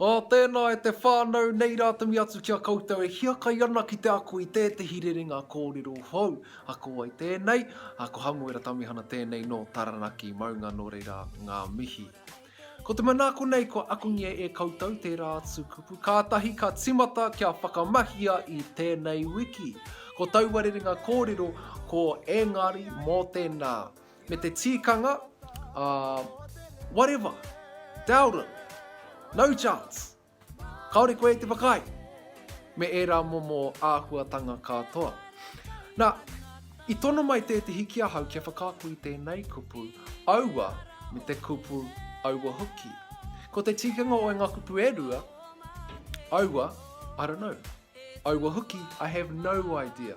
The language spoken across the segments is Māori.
Ā, tēnā e te whānau nei rātaui atu ki a koutou e hiakai ana ki te ako i tētehi rerenga kōrero hou. A ko wai tēnei? A, ko Hamuera Tamihana tēnei nō Taranaki, maunga nō reira ngā mihi. Ko te manaako nei kua akongia e koutou tērā atu kupu kātahi ka timata kia whakamahia i tēnei wiki. Ko taua rerenga kōrero ko engari mō tēnā. Me te tīkanga, uh, whatever, doubt it, no chance. Kāore koe te whakaae me ērā momo āhuatanga katoa. Nā, i tono mai tētehi ki ahau kia whakaako i tēnei kupu, aua me te kupu aua hoki. Ko te tikanga o ngā kupu e rua, aua, I don't know. Aua hoki, I have no idea.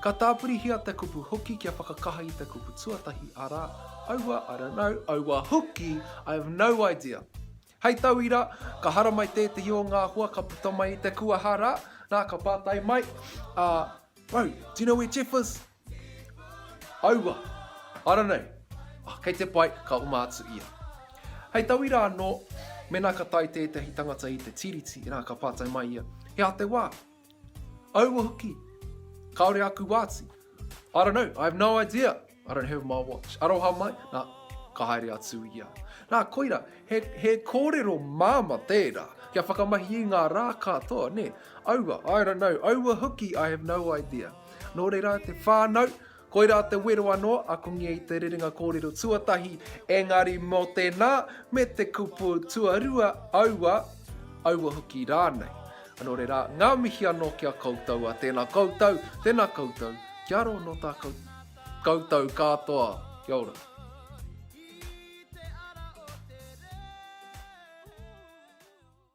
Ka tāpirihia te kupu hoki kia whakakaha i te kupu tuatahi, arā, aua, I don't know, aua hoki, I have no idea. Hei tauira, ka haramai tētehi o ngā hoa ka puta mai i te kuaha rā, nā ka pātai mai a Bro, do you know where Jeff is? Aua, I don't know. Oh, kei te pai, ka oma atu ia. Hei tauira anō, mēnā ka tae tētehi tangata i te Tiriti, nā ka pātai mai ia, He aha te wā? Aua hoki, kaore aku wāti. I don't know, I have no idea. I don't have my watch. Aroha mai, nā, ka haere atu ia. Nā, koira, he, he kōrero māma tērā, kia whakamahi i ngā rā katoa, nē. Aua, I don't know, aua hoki, I have no idea. Nō reira, te whānau, Koirā te wero anō, akongia i te rerenga kōrero tuatahi, engari mō tēnā, me te kupu tuarua, aua, aua hoki rānei. Anō reira, ngā mihi anō ki a koutou, a tēnā koutou, tēnā koutou, kia rō nō tā koutou kātoa. Kia ora.